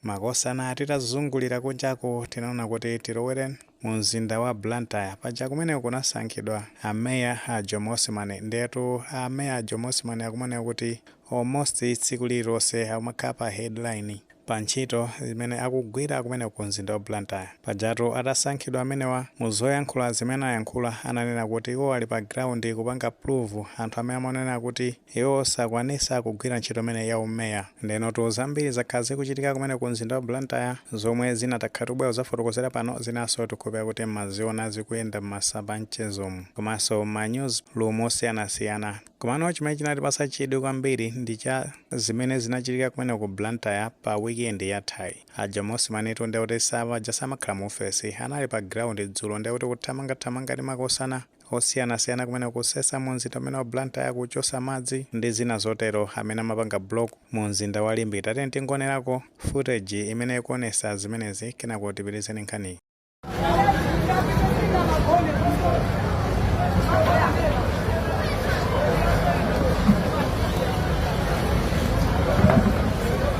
Makosana titazungulira kunjaku tinaona kuti tilowere mu mzinda wa Blantyre. Paja kumeneku kunasankhidwa ameya a Jomo Osman. Ndetu ameya a Jomo Osman akumaoneka kuti almost tsiku lililonse amakhala pa headline pa ntchito zimene akugwira kumeneko ku mzinda wa Blantyre. Pajatu atasankhidwa amenewa, mu zoyankhula zimene ayankhula ananena kuti iwo ali pa ground kupanga prove anthu amene amawanenera kuti Iwo sakwanisa kugwira ntchito imene ya umeya. Ndenotu zambiri zakhala zikuchitika kumene ku mzinda wa Blantyre zomwe zina takhala tikubwera kuzafotokozera pano zinaso tikukhulupira kuti mmaziona zikuyenda mmasamba amchezomu komanso mma news room osiyanasiyana. Komano chimene chinatipasa chidwi kwambiri ndi cha zimene zinachitika kumene ku Blantyre pa weekend yathayi. A Jomo Osman tu ndekuti samaja samakhala mu ofesi, anali pa ground dzulo ndekuti kuthamangathamanga ndi makosana. osiyanasiyana kumene kusesa mu mzinda umene wa Blantyre kuchosa madzi ndi zina zotero amene amapanga block mu mzinda wa Limbe tatiyeni tingonerako footage imene ikuonesa zimenezi kenako tipitirize ndi nkhaniyi.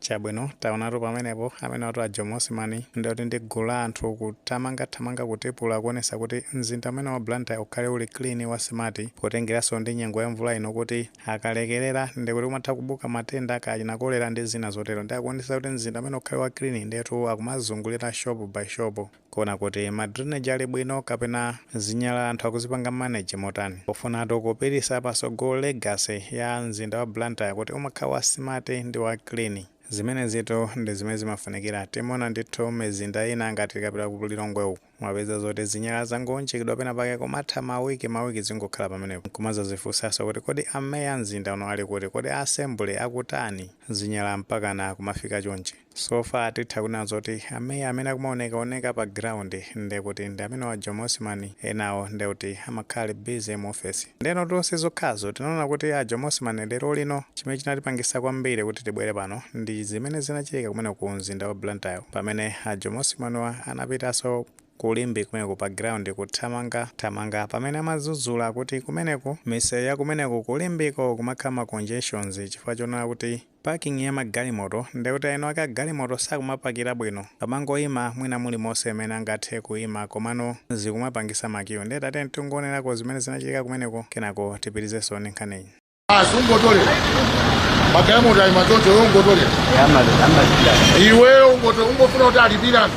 Chabwino, taonatu pamenepo, amenewatu a Jomo Osman ndiye kuti ndi gulu la anthu kuthamanga thamanga kutipula kuonesa kuti mzinda umene wa Blantyre ukhale uli clean wa smart potengeranso ndi nyengo ya mvula ino kuti akalekerera ndiye kuti kumatha kubuka matenda kaya achina cholera ndi zina zotero ndiye akuonesa kuti mzinda umene ukhale wa clean ndiyetu akumazungulira shop by shop Kuona kuti ma drainage ali bwino kapena zinyalala anthu akuzipanga manage motani pofunatu kupitisa pasogolo legacy ya mzinda wa Blantyre kuti umakhala wa smart ndi wa clean. Zimenezitu ndi zimene zimafunikira timaona ndithu mizinda ina ngati tikapita ku Lilongwe uku umapeza zoti zinyalala zangounjikidwa pena pake kumatha ma week ma week zingokhala pamenepo nkumazazifunsaso kuti kodi ameya a mzinda uno ali kuti? Kodi a assembly akutani? Zinyalala mpakana kumafika chonchi? So far titha kunena zoti ameya amene akumaoneka oneka pa ground ndekuti ndi amenewa a Jomo Osman enawo ndekuti amakhala ali busy mu office ndenotu sizokhazo tinaona kuti a Jomo Osman lerolino chimene chinatipangisa kwambiri kuti tibwere pano ndi zimene zinachitika kumene ku mzinda wa Blantyre pamene a Jomo Osman wa anapitanso ku Limbe kumeneko pa ground kuthamanga thamanga pamene amazuzula akuti kumeneko miseu ya kumeneko ku Limbe ko kumakhala ma congestions chifukwa chonena kuti Parking ya ma galimoto ndekuti aeni wake a galimoto sakumapakira bwino pamangoima mwina mulimonse mmene angathe kuima komano zikumapangisa ma queue nde tatiyeni tingoonerako zimene zinachitika kumeneko kenako tipitizenso ndi nkhaniyi. Basi ungotolera magalimoto aima choncho iwe ungotolera iweyo ungotolera ungofuna kuti alipire anthu.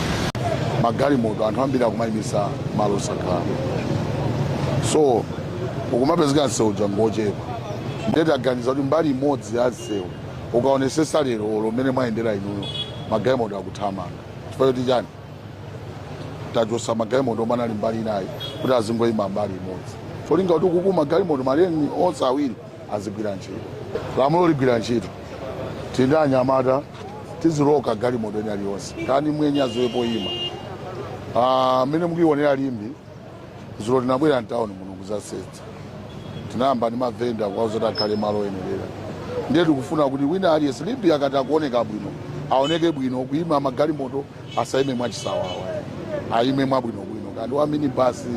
magalimoto anthu ambiri akumayimisa malo osakhala so ukumapezeka msewu uja ngochepa ndiye taganiza kuti mbali imodzi ya msewu ukaonesesa lero olo mmene mwayendera inuyo magalimoto akuthamanga chifukwa choti chani tachosa magalimoto omwe anali mbali inayi kuti azingoyima mbali imodzi cholinga kuti kuku magalimoto maleni onse awiri azigwira ntchito lamulo ligwira ntchito tili ndi anyamata tiziloka galimoto ina iliyonse kaya ndi mwenye aziwe poyima Ah, mmene mukuionera Limbe zulo tinabwera mtawuni muno kuzasetsa tinayamba ndi mavenda kuwauza kuti akhale malo oyenerera ndiye tikufuna kuti wina aliyense Limbe akati akuoneka bwino aoneke bwino kuyima magalimoto asayime mwachisawawa ayime mwabwinobwino kaya ndi wa minibasi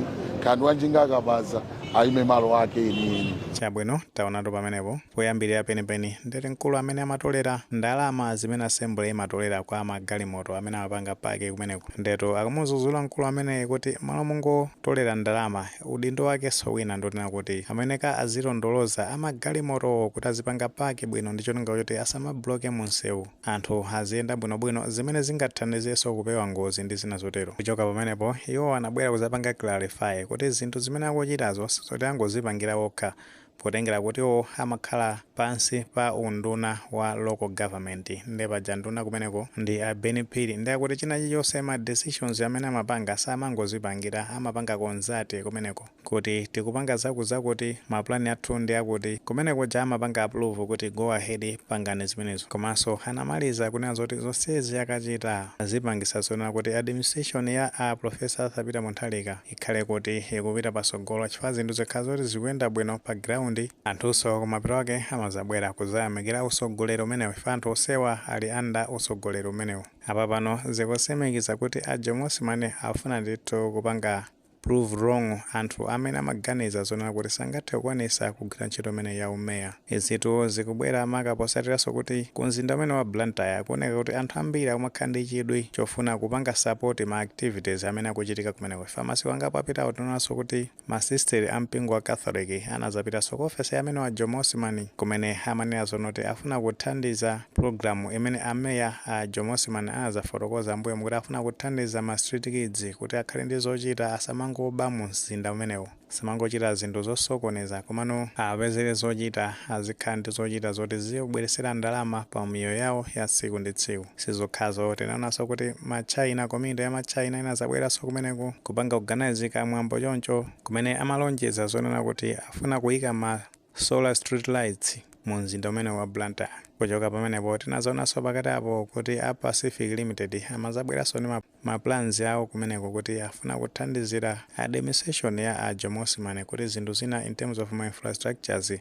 kaya ndi wa njinga akabaza aime malo ake enieni. Chabwino, taonatu pamenepo, poyambirira penipeni, ndi zoti mkulu amene amatolera ndalama zimene assembly imatolera kwa magalimoto amene amapanga park kumeneko. Ndiyetu akumudzudzula mkulu ameneyi kuti m'malo mongotolera ndalama, udindo wakenso wina ndi wonena kuti ameneka azilondoloza amagalimotowo kuti azipanga park bwino ndi cholinga choti asamabloke munsewu. anthu aziyenda bwinobwino, zimene zingathandizenso kupewa ngozi ndi zina zotero. Kuchoka pamenepo, iwo anabwera kudzapanga clarify kuti zinthu zimene akuchitazo sizoti angozipangira okha potengera kuti iwo amakhala pansi pa unduna wa local government nde paja nduna kumeneko ndi a Ben Phiri nde akuti china chilichonse ma decisions amene amapanga samangozipangira amapanga consult kumeneko. kuti tikupanga zakuzakuti ma plan athu ndi akuti kumene kuja amapanga approve kuti go ahead pangani zimenezo komanso anamaliza kunena zoti zonsezi akachita zipangisa zonena kuti administration ya a Professor Arthur Peter Mutharika ikhale kuti ikupita patsogolo chifukwa zinthu zikakhala zoti zikuyenda bwino pa ground anthunso kumapeto ake amazabwera kuzayamikira utsogoleri umenewu ife anthu tonsewa tili under utsogoleri umenewu apapano zikutsimikiza kuti a Jomo Osman akufuna ndithu kupanga prove wrong anthu amene amaganiza zonena kuti sangathe kukwanisa kugwira ntchito imeneyi ya u mayor. Izitu zikubwera maka posatiranso kuti ku mzinda umenewu wa Blantyre kuoneka kuti anthu ambiri akumakhala ndi chidwi chofuna kupanga support ma activities amene akuchitika kumeneko chifukwa masiku angapo apitawo tinaonanso kuti ma sister a mpingo wa Catholic anazapitanso ku office ya amenewa a Jomo Osman kumene amanena zonena kuti afuna kuthandiza Pulogalamu imene a Mayor a Jomo Osman anazafotokoza mbuyomu kuti afuna kuthandiza ma street kids kuti akhale ndi zochita asamangoba mu mzinda umenewu, asamangochita zinthu zosokoneza komano awapezere zochita azikhala ndi zochita zoti ziziwabweretsera ndalama pa miyoyo yawo ya tsiku ndi tsiku. Sizokhazo tinaonanso kuti ma China, community ya ma China inazabweranso kumeneko kupanga organise ka mwambo choncho kumene amalonjeza zonena kuti afuna kuyika ma. solar street lights mu mzinda umenewu wa Blantyre. Kuchoka pamenepo tinadzaonanso pakati apo kuti a Pacific Limited amadzabweranso ndi ma, ma plans awo kumeneko kuti afuna kuthandizira administration ya a Jomo Osman kuti zinthu zina in terms of ma infrastructures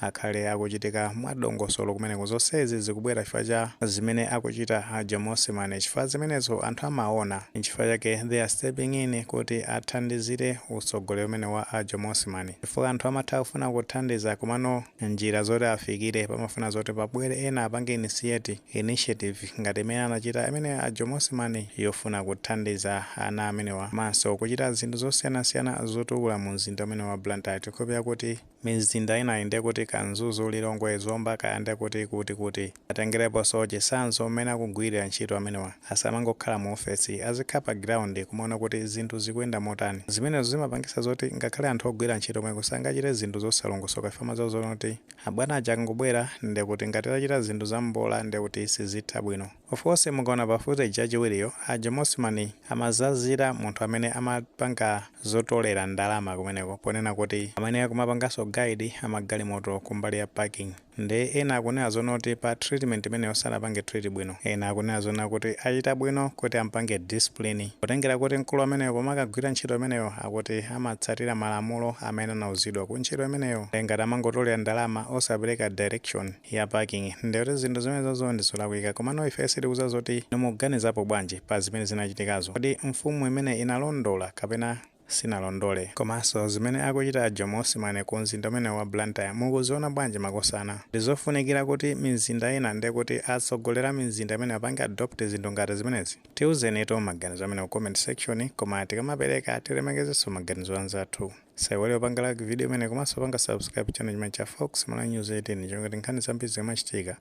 akhale akuchitika mwadongosolo kumeneko. Zonsezi zikubwera chifukwa cha zimene akuchita a Jomo Osman chifukwa zimenezo anthu amaona. Nchifukwa chake they are stepping in kuti athandizire utsogoleri umenewu wa a Jomo Osman. chifukwa anthu amatha kufuna kuthandiza komano njira zoti afikire pamafuna zoti pabwere ena apange initiate, initiative, ngati imene anachita amene a Jomo Osman yofuna kuthandiza ana amenewa komanso kuchita zinthu zosiyanasiyana zotukula mu mzinda umenewu wa Blantyre tikhulupirira kuti mizinda inayi ndekuti ka Mzuzu, Lilongwe, Zomba kaya ndekuti kuti kuti. Atengerepo chitsanzo mmene akugwirira ntchito amenewa. Asamangokhala mu ofesi, azikhala pa ground kumaona kuti zinthu zikuyenda motani. Zimenezo zimapangitsa zoti ngakhale anthu ogwira ntchito komweko sangachite zinthu zosalongosoka chifukwa amadziwa zonena kuti abwana aja akangobwera ndiye kuti ngati achita zinthu za mbola ndiye kuti sizitha bwino. Of course mukaona pa footage yachiwiriyo, a Jomo Osman amazazira munthu amene amapanga zotolera ndalama kumeneko ponena kuti amene akumapanganso guide magalimoto kumbali ya parking. Nde ena akunena zonena kuti pa treatment imeneyo sanapange treat bwino. Ena akunena zonena kuti achita bwino kuti ampange discipline potengera kuti mkulu ameneyo pomakagwira ntchito imeneyo akuti amatsatira malamulo amene anauzidwa ku ntchito imeneyo. Nde ngati amangotolera ndalama osapereka direction ya parking nde kuti zinthu zimenezozo ndi zolakwika. Komano ife sitikudziwa zoti inu mukuganizapo bwanji pa zimene zinachitikazo. Kodi mfumu imene inalondola kapena. sinalondole. Komanso zimene akuchita a Jomo Osman ku mzinda umenewu wa Blantyre mukuziona bwanji makosana? Ndizofunikira kuti mizinda ina ndi kuti atsogoleri a mizinda imeneyi apange adopt zinthu ngati zimenezi? Tiuzenitu maganizo amenewo ku comment section koma tikamapereka tilemekezenso maganizo a anzathu. Musaiwale kupanga like video imeneyi komanso kupanga subscribe channel chimenechi cha Fox Malawi News 18 chifukwa ngati nkhani zambiri zikamachitika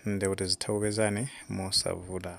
ndi kuti zitha kupezani mosavuta.